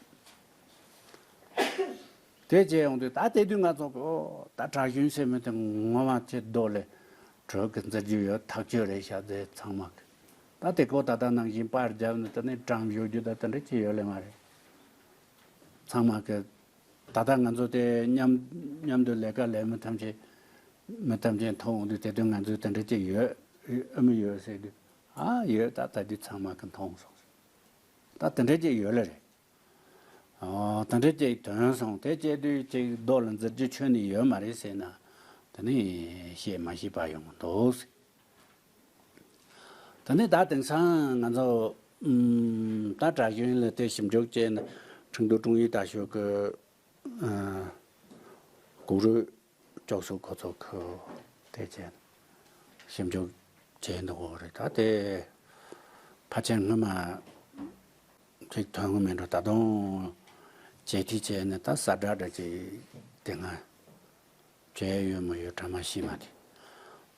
A: དེ་སྐྱེས་ཡོང་དུས་ད་ལྟའི་དུས་ང་ཚོ་གོ་ད་བྲག་གཞུང་སེན་མོ་དེ་ངོ་མ་ཁྱི་རྡོ་ལེ་གྲོལ་གི་འཛེར་རྒྱུ་ཡོད་ཐག་ཆོད་རེད་བྱ་ཚེ་ཚང་མ་གི་ད་དེ་གོ་ད་ལྟ་ནང་བཞིན་པར་བརྒྱབ་ནས་དེ་ནས་གྲངས་བཞུ་རྒྱུ་ད་དེ་འདྲ་ཁྱི་ཡོད་ལེ་མ་རེད་ཚང་མ་གི། ད་ལྟ་ང་ཚོ་དེ་མཉམ་དུ་ལས་ཀ་ལས་མི་ཐམས་ཅད་མི་ཐམས་ཅད་མཐོང་དུས་དེ་དུས་ང་ཚོས་དེ་འདྲ་ཅིག་ཡོད་ཨ་མི་ཡོད་ཟེར་དུས་ཨ་ཡོད་ད་ད་དུས་ཚང་མ་གི་མཐོང་སོང་ཟེར་ད་དེ་འདྲ་ཅིག་ཡོད་ལ་རེད། དེ་འདྲ་ཅིག་དོན་སོང་དེ་སྐྱེས་དུས་ཅིག་རྡོ་ལ་འཛེར་རྒྱུ་ཆོས་ནི་ཡོད་མ་རེད་ཟེར་ན་དེ་ནི་བཤད་མ་ཤེས་པ་ཡོང་གི་འདུག་ཟེར། ད་ནི་ད་དེང་སང་ང་ཚོ། ད་དྲག་གཞུང་ལ་དེ་ཞིབ་འཇུག་བྱས་ནས་ཁྲིན་ཏུའུ་ཀྲུང་ཡུལ་དྲག་ཤུགས་ཀྱི། གུག་རུས་ཅོག་གཟུགས་འགོ་ཚོགས་ཁུལ་དེ་བྱས་ནས་ཞིབ་འཇུག་བྱས་འདུག་གོ་རེད་ད་དེ། ཕ་ཆེན་སྔོན་མ། ཅིག་ཐོན་གི་མིན་འགྲོ་ད་དུང། བྱེད་ཀྱི་བྱས་ནས་ད་གསར་དྲག་དྲག་ཅིག་དེ་སྔ། བྱས་ཡོད་མ་ཡོད་གྲ་མ་ཤིས་མ་དེ།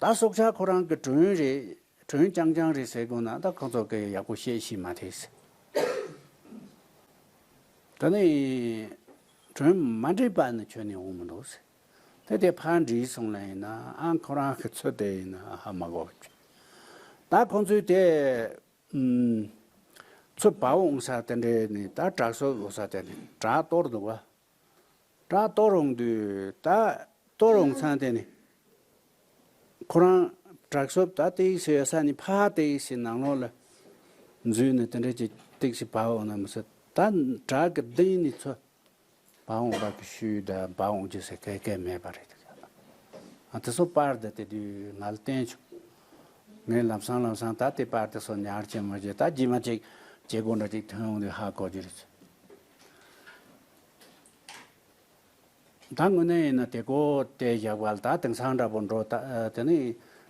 A: ད་སྲོག་ཆགས་ཁོ་རང་གི་དྲུང་རེད་དྲུང་རྐྱང་རྐྱང་རེད་ཟེར་དགོས་ན་ད་ཁོ་ཚོ་གི་ཡག་པོ་བཤད་ཤེས་མ་ཐེ་ཟེར། ད་ནི་དྲུང་མ་འདྲིས་པ་ནི་ཁྱོད་ནི་འོང་མི་འདུག་ཟེར། དེ་དེ་ཕར་འདྲིས་སོང་ན་ཡིན་ན་ཁོ་རང་གི་ཚོད་དེ་ཡིན་ན་ཧ་མ་གོ་ཁྱོད། ད་ཁོང་ཚོའི་དེ་ཚོད་དཔའ་འོང་ས་དེ་འདྲས་ནི་ད་བྲག་སོག་འོང་ས་དེ་ནི་བྲག་གཏོར་འདུག་བ། གྲགས་གཏོར་འོང་དུས་ད་གཏོར་འོང་ཚང་དེ་ནི། ཁོ་རང་གྲགས་སོབ་ད་སྟེགས་བྱས་ཡོད་ས་ནི་ཕ་ཧ་སྟེགས་བྱས་ནང་ལོགས་ལ་འཛུལ་ནས་དེ་འདྲ་གྱི་སྟེགས་བྱས་བག་འོང་ན་མི་སྲིད་ད་གྲགས་ཀྱི་གདིང་ནི་ཚོ་བག་འོང་བག་གི་ཤུལ་ད་བག་འོང་རྒྱུ་ཟེར་སྐད་སྐད་མེད་པ་རེད་དེ་ག་ཨ་དེ་སོ་པར་ད་དེ་དུས་ང་ལ་བསྟན་བྱུང། ངས་ལམ་སང་ལམ་སང་ད་དེ་པར་དེ་སོ་ཉར་བྱེད་མོ་བྱེད་ད་རྗེས་མ་ཅིག་བྱེད་དགོས་འདྲ་ཅིག་ཐོན་འོང་དུས་ཧ་གོ་རྒྱུ་རེད། ད་དངོས་གནས་ཡིན་ན་དེ་གོ་དེ་བཞག་པ་ལ་ད་དེང་སང་འདྲ་པོ་འགྲོ་དེ་ནི་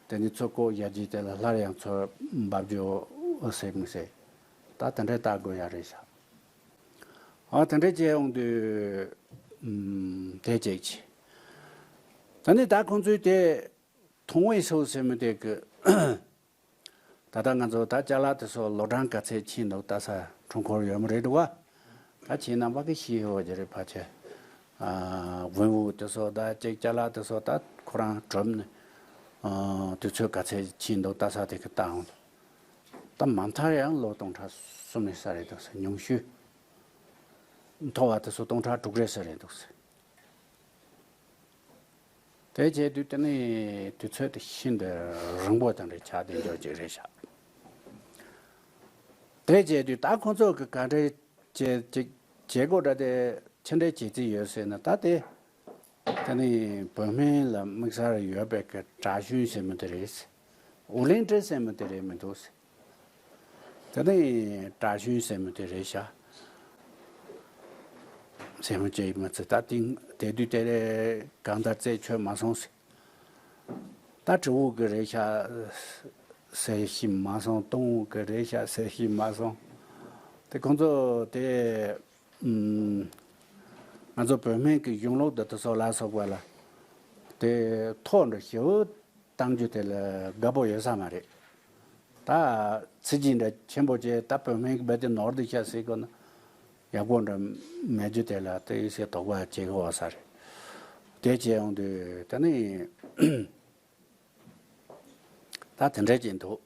A: དེ་ནི་ཚོད་གོ་བཞག་རྗེས་དེ་ལ་སླར་ཡང་ཚོད་འབབ་རྒྱོ་སྲིད་མི་སྲིད་ད་དེ་འདྲའི་བལྟ་དགོས་ཡ་རེད་ཤག་ཨོ་དེ་འདྲའི་བྱས་འོང་དུས་དེ་ཅིག་གྱིས་དེ་ནི་ད་ཁོང་ཚོས་དེ་མཐོང་བས་སོ་སེ་མི་དེ་གི། ད་ལྟ་ང་ཚོ་ད་ལྕགས་ལ་དེ་སོགས་ལོ་གྲངས་ག་ཚད་ཕྱིན་འདུག་ལྟ་ས་འཁྲུངས་འཁོར་ཡོད་མ་རེད་འདུག་ག་ད་ཕྱིན་ན་བ་གི་ཤི་ཧེ་བོ་ཇི་རིགས་བ་ཆེ། བོན་དབུགས་དེ་སོགས་ད་ཅེག་ལྕགས་ལ་དེ་སོགས་ད་ཁོ་རང་གྲུབ་ནས་དུས་ཚོད་ག་ཚད་ཕྱིན་འདུག་ལྟ་ས་དེ་གི་ལྟ་འོང། ད་མ་མཐར་ཡང་ལོ་སྟོང་ཕྲག་གསུམ་ཡོད་ས་རེད་འདུག་ཟེར་ཉུང་ཤུས་མཐོ་བ་དེ་སོགས་སྟོང་ཕྲག་དྲུག་རེད་ས་རེད་འདུག་ཟེར། དེ་བྱས་དུས་དེ་ནས་དུས་ཚོད་དེ་ཤིན་ཏུ་རིང་པོ་ཙམ་རེ་བྱ་དེ་འཇོག་ཅིག་རེ་བྱ། དེ་བྱས་དུས་ད་ཁོ་ཚོ་གི་ག་འདྲའི་བྱེད་སྒོ་འདྲ་སྟེ་ཕྱི་འབྲེལ་བྱེད་རྩིས་ཡོད་ཟེར་ན་ད་དེ་དེ་ནི་བོད་མི་ལ་དམིགས་སར་ཡོད་པའི་གྲྭ་གཞོན་ཟེར་མི་དེ་རེད་ཟེར། ཨོ་གླིང་ཁྲི་ཟེར་མི་དེ་རེད་མི་འདུག་ཟེར། དེ་ནས་བཀྲ་ཤིས་སེན་མོ་དེ་རེ་བཞག། སེན་མོ་བཅས་མ་ཚད་ད་བཏིང། དེ་དུས་དེ་རེས་གང་ལྟར་རྩད་ཆོད་མ་སོང་ཟེར། ད་གྲི་འོག་གི་རེ་བཞག་ཟེར་བཞིན་མ་སོང་སྟོང་འོག་གི་རེ་བཞག་ཟེར་བཞིན་མ་སོང། དེ་ཁོང་ཚོ་དེ། ང་ཚོ་བོད་སྨན་གྱི་གཞུང་ལུགས་འདི་དག་སོགས་ལ་སོགས་པ་ལ། དེ་ཐོག་འདྲ་ཞིབ་བཏང་རྒྱུ་དེ་ལ་དགའ་པོ་ཡོད་ས་མ་རེད། ད་ཚི་ཇི་འདྲ་ཆེན་པོ་བྱས་ད་བོད་སྨན་གྱི་བེ་དེ་ནོར་དེ་ཤ་སེ་གོ་ན། ཡག་པོ་འདྲ་མེད་རྒྱུ་དེ་ལ་དེ་ཡི་སེ་དོགས་པ་བྱེད་དགོས་བ་ས་རེད། དེ་བྱས་ཡོང་དུས་ད་ནི། ད་དེ་འདྲ་བྱེད་འདུག།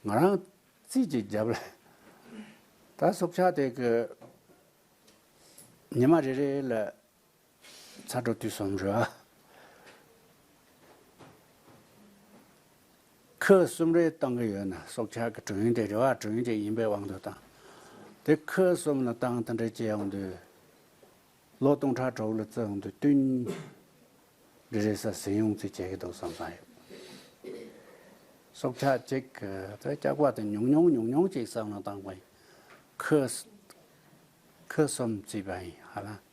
A: ང་རང་ཚིས་ཀྱི་རྒྱབ་ལ། ད་སྲོག་ཆགས་དེ་གི། ཉི་མ་རེ་རེ་ལ་ཚ་གྲོ་དུས་གསུམ་རོལ། ཁུ་གསུམ་རེ་བཏང་གི་ཡོད་ན་སྲོག་ཆགས་ཀྱི་དྲུང་ཡིན་ཏེ་རེ་བ་དྲུང་ཡིན་དེ་ཡིན་པའི་དབང་དུ་བཏང། དེ་ཁུ་གསུམ་ལ་བཏང་དང་འདྲེ་བྱེད་ཡང་འདུས། ལོ་སྟོང་ཕྲག་དྲུག་ལ་བཙོས་ཡང་འདུས་བསྟུན། རེ་རེ་ཟ་ཟི་ཡོང་རྩིས་བྱེད་ཀྱི་འདུག་བསམ་བསམ་ཡོད། སྲོག་ཆགས་གཅིག་གི་དེ་སྐྱག་པ་དེ་ཉུང་ཉུང་ཉུང་ཉུང་ཅིག་བསམ་ལ་བཏང་བ་ཡིན། ཁུ་གསུམ་བརྩིས་པ་ཡིན་ཧ་ལམ།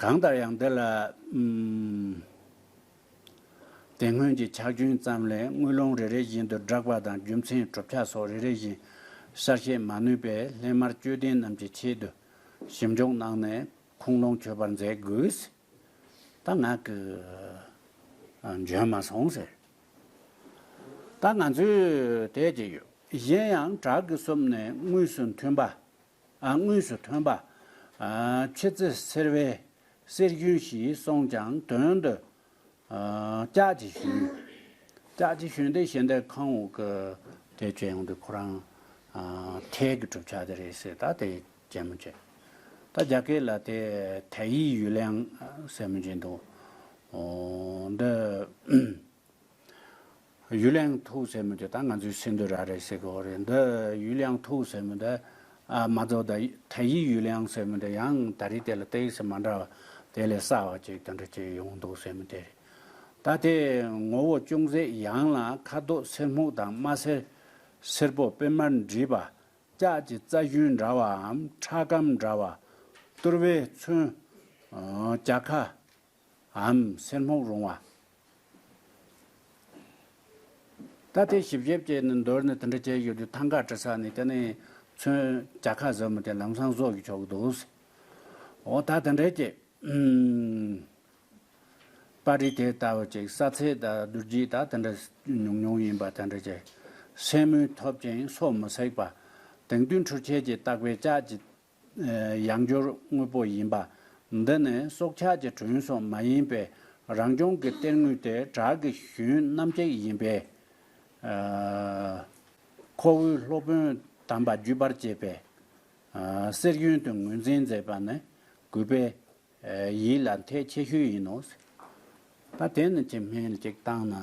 A: གང་ལྟར་ཡང་འདི་ལ། དེ་སྔོན་གྱི་ཕྱག་རྒྱུན་ཙམ་ལས་དངུལ་ལོང་རེ་རེ་བཞིན་དུ་བསྒྲགས་པ་དང་རྒྱུ་མཚན་གྲུབ་ཆ་སོགས་རེ་རེ་བཞིན་གསལ་བཤད་མ་ནུས་པས་སླད་མར་དཔྱོད་ལྡན་རྣམས་ཀྱི་ཆེད་དུ་ཞིབ་འཇུག་གནང་ནས་ཁུངས་ལུང་འཁྱོལ་པར་མཛད་དགོས། ད་ངག་གིས་འཇོན་མ་སོང་ཟེར། ད་ང་ཚོས་བལྟས་ཀྱི་ཡོད། གཞན་ཡང་བྲག་གི་སྲུབས་ནས་དངོས་སུ་མཐུན་པ། དངོས་སུ་ཐོན་པ། ཆེ་ཚེ་སེར་བས་སེར་རྒྱུན་ཞིག་སོང་ཀྱང་དོན་དུ། ལྕགས་ཀྱི་ཞུན། ལྕགས་ཀྱི་ཞུན་དེ་ཞེ་འདས་ཁང་འོག་གི་དེ་ཇེ་ཡང་དུ་ཁོ་རང་ཐལ་གྱི་གྲུབ་ཆ་དེ་རེད་ཟེར་ད་དེ། བྱས་མོ་བྱས། ད་རྒྱ་སྐད་ལ་དེ་ཐའི་ཡིག་ཡུལ་ལའང་ཟེར་མོ་བྱས་འདུག། འདི། ཡུལ་ལའང་ཐུག་ཟེར་མོ་བྱས་ད་ང་ཚོའི་སེ་འདོད་ར་རེད་ཟེར་གི་འོ་རེད་འདི་ཡུལ་ལའང་ཐུག་ཟེར་མོ་བྱས། མ་རྫོགས་ད་ཐའི་ཡིག་ཡུལ་ལའང་ཟེར་མོ་བྱས་ཡང་ད་རེས་དེ་ལ་ཏའི་ཡིག་སེ་མ་འདྲ་བ་དེ་ལས་སྲ་བ་ཅིག་དེ་འདྲ་ཅིག་ཡོང་འདུག་ཟེར་མོ་བྱས། ད་དེ་ངོ་བོ་ཅུང་ཟད་ཡང་ལ་ཁ་དོག་སེར་སྨུག་དང་དམར་སེར། སེར་པོ་དཔེ་མར་འདྲིས་པ། ལྕགས་ཀྱི་རྩ་ཞུན་འདྲ་བའམ་ཁྲག་སྐམ་འདྲ་བ། གཏོར་བས་མཚོན། བྱ་ཁ། འམ་སེར་སྨུག་རུང་བ། རྟ་ཐེལ་ཞིབ་ཞེབ་བཅས་ནི་མདོར་ནི་དེ་འདྲ་བྱས་ཡོད་དུས་ཐང་ག་བྲི་ས་ནི་དེ་ནས་མཚོན། བྱ་ཁ་ཟབ་མོ་དེ་ལམ་སང་བཟོ་གི་ཆོག་གི་འདུག། འོ་ད་དེ་འདྲའི་བྱེད། པར་རིས་དེ་ལྟ་བུ་ཅིག་ས་ཚིགས་དང་བསྡུར་རྒྱུ་ད་དེ་འདྲ་ཉུང་ཉུང་ཡིན་པ་དེ་འདྲ་ཅིག་སེམས་མུན་ཐོབ་ཅིང་སོ་མི་སྲེག་པ། དེང་དུས་འཕྲུལ་ཆས་ཀྱིས་བཏགས་པའི་ལྕགས་ཀྱི་ཡང་སྦྱོར་དངོས་པོ་ཡིན་པ། འདི་ནི་སྲོག་ཆགས་ཀྱི་བྲུན་སོགས་མ་ཡིན་པས་རང་བྱུང་གི་གཏེར་དངོས་ཏེ་བྲག་གི་ཞུན་སྣམ་གཅིག་ཡིན་པས། ཁོ་བོའི་སློབ་དཔོན་དམ་པ་བརྒྱུད་པར་བཅས་པས་གསེར་གཡོན་དུ་ངོས་འཛིན་མཛད་པ་ནི་གུས་པས་ཡིད་ལ་འཐད་ཆེ་ཤོས་ཡིན་ནོ། ད་དེ་ནི་ཅི་སྨྲས་གཅིག་བཏང་ན།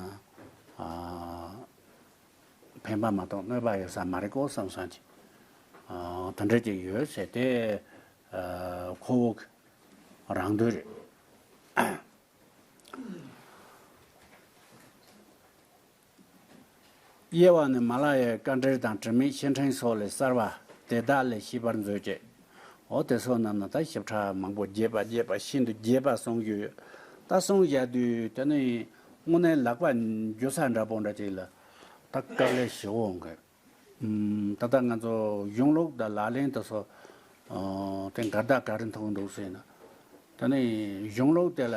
A: ཕན་པ་མ་གཏོགས་གནོད་པ་ཡོད་ས་མ་རེད་ཀོ་བསམ་བསམ་གྱིས། དོན་འབྲས་ཅིག་ཡོད་ཟེར་དེ། ཁོ་བོ་གི་རང་འདོད་རེད། དབྱེ་བ་ནི་མ་ལ་ཡའི་དཀའ་འགྲེལ་དང་དྲི་མེད་བཤེས་འཕྲེང་སོགས་ལས་གསར་བ་དེ་དག་ལས་ཤེས་པར་མཛོད་ཅེས། འོ་དེ་སོགས་རྣམས་ནི་ད་ཞིབ་ཕྲ་མང་པོ་རྒྱས་པ་རྒྱས་པ་ཤིན་ཏུ་རྒྱས་པར་གསུངས་རྒྱུ་ཡོད། ད་གསུང་བཞག་དུས་དེ་ནི་དངོས་གནས་ལག་པ་འགྱུར་ས་འདྲ་པོ་འདྲ་ཅིག་ལ་ད་སྐབས་ལས་ཞི་བོ་འོང་གི། ད་ལྟ་ང་ཚོ་གཞུང་ལུགས་དང་ལག་ལེན་དུ་སོགས་དེ་འགར་ད་ག་རེ་མཐོང་འདུག་ཟེར་ན། དེ་ནི་གཞུང་ལུགས་དེ་ལ།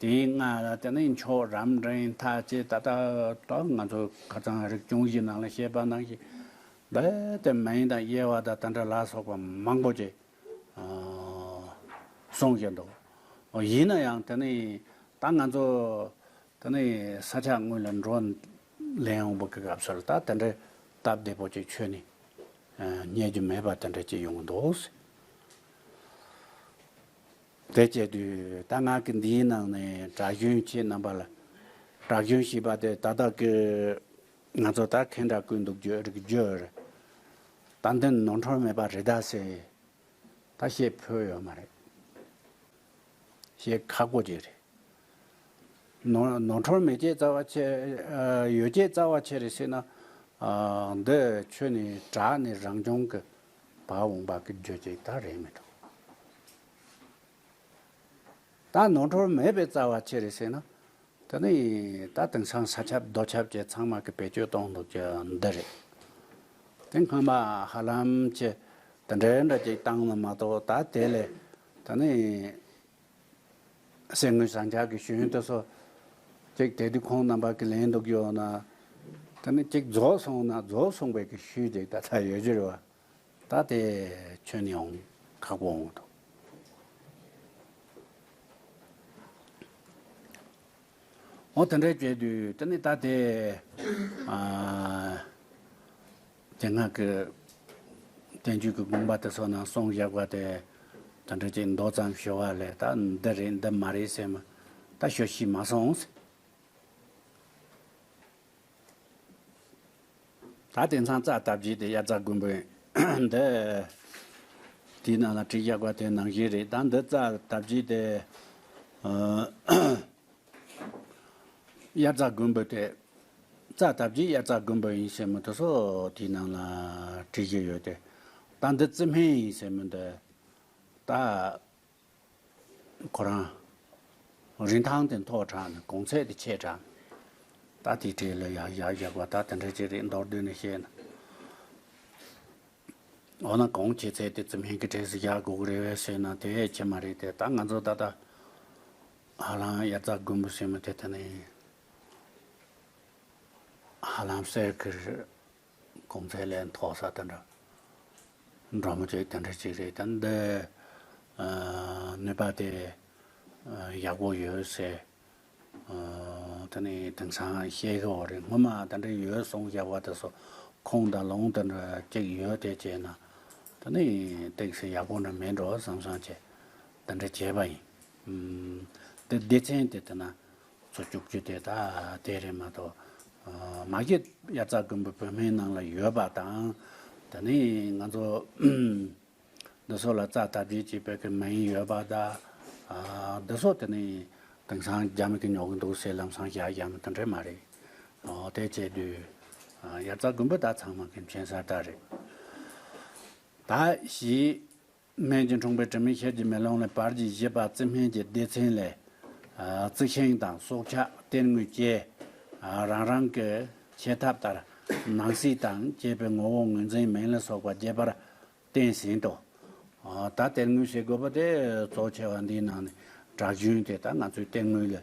A: དེའི་སྔ་དེ་ནས་མཆོག་རམ་འབྲིང་མཐའ་བཅས་ད་ལྟ་དག་ང་ཚོ་ཁ་ཚང་རིག་གཞུང་བཞིའི་ནང་ལ་བཤད་པ་ནང་བཞིན་རྦད་དེ་མ་ཡིན་དང་དབྱེ་བ་དང་དང་འདྲ་ལ་སོགས་པ་མང་པོ་ཅིག་གསུང་བཞིན་འདུག་ཡིན་ན་ཡང་དེ་ནི་ད་ང་ཚོ་དེ་ནི་ས་ཆ་དངོས་ལ་འགྲོ་ལེན་འོང་བ་གི་སྐབས་སུ་ལ་ད་དེ་འདྲའི་སྟབས་བདེ་པོ་ཅིག་ཆོས་ནི་རྙེད་རྒྱུ་མེད་པ་དེ་འདྲ་ཅིག་ཡོང་གི་འདུག། དེ་སྐྱེས་དུས་རྟ་ནག་གི་འདིའི་ནང་ནས་གྲྭ་གཞོན་ཁྱེད་རྣམ་པ་ལ་གྲྭ་གཞོན་ཞེས་པ་དེ་ད་དག་གི་ང་ཚོ་ད་ཁེན་དྲ་བཀོད་འདུག་རྒྱུ་རིག་རྒྱུ་རེད་ད་འདིར་ནོར་འཁྲོལ་མེད་པ་རེད་ད་ཟེར་ད་བཤད་ཕོད་ཡོད་མ་རེད་བཤད་ཁག་པོ་ཅིག་རེད། ནོར་འཁྲོལ་མེད་ཀྱེ་རྩ་བ་ཆེ་ཡོད་ཀྱེ་རྩ་བ་ཆེ་རེད་ཟེར་ན་འདི་ཆོས་ནི་གྲྭ་ནི་རང་སྐྱོང་གི་བ་འོང་བ་གི་རྒྱུ་དེ་དག་རེད་མི་འགྲོ། ད་ནོར་འཁྲུལ་མེད་པའི་རྩ་བ་ཅི་རེད་ཟེར་ན། དེ་ནི་ད་དེང་སང་ས་ཁྱབ་རྡོ་ཁྱབ་ཀྱི་ཚང་མ་གི་བེད་སྤྱོད་གཏོང་འདུག་ཀྱི་འདི་རེད། དེ་སྔ་མ་ཧ་ལམ་གྱི་དེ་འདྲའི་འདྲ་གཅིག་བཏང་ནི་མ་གཏོགས་ད་དེ་ལས་དེ་ནི། གསེར་དངུལ་ཟངས་ལྕགས་ཀྱི་ཞུན་ཏོ་སོགས། ཅེག་དེ་དུས་ཁོང་རྣམ་པ་ཀི་ལན་དུ་བསྐྱོད་ན། དེ་ནས་ཅེག་རྫོགས་སོང་ན་རྫོགས་སོང་བས་ཀི་ཤུལ་ཅེག་ད་ལྟ་ཡོད་རྒྱུ་རེད་བ། ད་དེ་ཁྱོན་ནས་འོང་ཁག་པོ་འོང་ཐུབ། འོ་དེ་འདྲ་བྱས་དུས་དེ་ནས་ད་དེ། རྒྱ་ནག་གི་བཙན་བྱོལ་གྱི་དགོན་པ་དེ་ཚོ་ནང་གསུང་བཞག་པ་དེ་དོན་དྲུག་ཅིག་མདོ་ཙམ་ཞུ་བ་ལས་ད་འདི་རེད་འདི་མ་རེད་ཟེར་མི་ད་ཞུ་ཤེས་མ་སོང། ད་དེང་སང་རྩ་བཏབ་རྗེས་དེ་དབྱར་རྩ་དགོན་པའི་འདི་དེའི་ནང་ལ་བྲིས་བཞག་པ་དེ་ནང་བཞིན་རེད་ད་འདི་རྩ་བཏབ་རྗེས་དེ། དབྱར་རྩྭ་དགུན་འབུ་སྟེ། རྩྭ་བཏབ་རྗེས་དབྱར་རྩྭ་དགུན་འབུ་ཡིན་ཟེར་མི་འདུག་སོགས་དེའི་ནང་ལ་བྲིས་རྒྱུ་ཡོད་དེ། ད་འདི་རྩི་སྨན་ཡིན་ཟེར་མི་འདུག། ད། ཁོ་རང། རིན་ཐང་དེ་མཐོ་དྲགས་ནས་གོང་ཚད་དེ་ཆེ་དྲགས། ད་དེ་བྲིས་ལ་ཡག་ཡག་བཞག་པ་ད་དེ་འདྲ་ཅིག་རེད་མདོར་བསྡུས་ནས་བཤད་ན། འོ་ན་གོང་ཆེ་ཚད་དེ་རྩི་སྨན་གྱི་གྲས་སུ་བཞག་དགོས་ཀྱི་རེད་བས་ཟེར་ན་དེ་ཁྱད་མ་རེད་དེ་ད་ང་ཚོ་ད་ལྟ། ཧ་ལམ་དབྱར་རྩྭ་དགུན་འབུ་སྲིན་མོ་དེ་ལྟ་ན་ཡིན། ཧ་ལམ་གསེར་གྱི་གོང་ཚད་ལས་མཐོ་ས་དེ་འདྲ་འབྲོག་མོ་ཅིག་དེ་འདྲ་ཅིག་རེད་ད། འདི་ནུས་པ་དེ་ཡག་པོ་ཡོད་ཟེར། དེ་ནི་དེང་སང་བཤད་ཀྱི་འོག་རེད་སྔོན་མ་དེ་འདྲ་ཡོད་གསུངས་བཞག་པ་དེ་སོ་ཁོངས་དང་ལོངས་དེ་འདྲ་ཅིག་ཡོད་དེ་བྱས་ན་དེ་ནི་སྟེགས་སེ་ཡག་པོ་འདྲ་མིན་འགྲོ་བསམ་བསམ་བྱས། དེ་འདྲ་བྱས་པ་ཡིན། དེ་སྡེ་ཚན་དེ་དེ་ན་ཚོ་བཅུག་རྒྱུ་དེ་ད་ལྟའི་རེད་མ་གཏོགས། མ་གཞི་དབྱར་རྩྭ་དགུན་འབུ་བོད་སྨན་ནང་ལ་ཡོད་པ་དང། ད་ནི་ང་ཚོ་འདི་སོགས་ལ་རྩྭ་བཏབ་རྗེས་ཀྱི་བོད་ཀྱི་མ་ཡིན་ཡོད་པ་ད། འདི་སོགས་དེ་ནི་དེང་སང་རྒྱ་མི་གིས་ཉོ་གི་འདུག་སེ་ལམ་སང་བཞག་རྒྱ་མི་དེ་འདྲས་མ་རེད། དེ་བྱས་དུས་དབྱར་རྩྭ་དགུན་འབུ་ད་ཚང་མ་གི་མཁྱེན་གསར་ད་རེད། ད་གཞི་སྨན་གྱི་འཁྲུངས་པའི་དྲི་མེད་ཤེལ་གྱི་མེ་ལོང་ལས་བར་གྱི་བཞི་པ་རྩི་སྨན་གྱི་སྡེ་ཚན་ལས། རྩི་ཤིང་དང་སྲོག་ཆགས་གཏེར་དངོས་བཅས་རང་རང་གི་བྱེད་ཐབས་ལྟར་སྣང་སྲིད་དང་བཅས་པའི་ངོ་བོ་ངོས་འཛིན་མིང་ལ་སོགས་པ་རྒྱས་པར་བསྟན་ཟིན་ཏོ། ད་གཏེར་དངོས་ཞེས་བཀོད་པ་དེ་གཙོ་ཆེ་བ་འདིའི་ནང་ནས་གྲགས་རྒྱུན་དེ་དག་ང་ཚོའི་གཏེར་དངོས་ལས།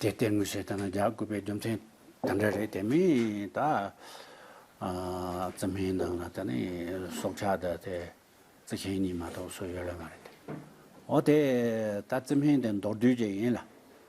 A: དེ་ལྟའི་དངོས་གཞི་དང་རྒྱག་དགོས་པའི་རྒྱུ་མཚན་དེ་འདྲ་རེད་དེ་མིན་ད་བཙུན་མའི་ནང་ལ་ད་ནི་སྲོག་ཆགས་དེ་དེ་རྩི་མཁན་གཉིས་མ་གཏོགས་སུ་ཡོད་ལ་མ་རེད་དེ་འོ་དེ་ད་བཙུན་མའི་དེ་མདོར་བསྡུས་ཀྱི་ཡིན་ལ།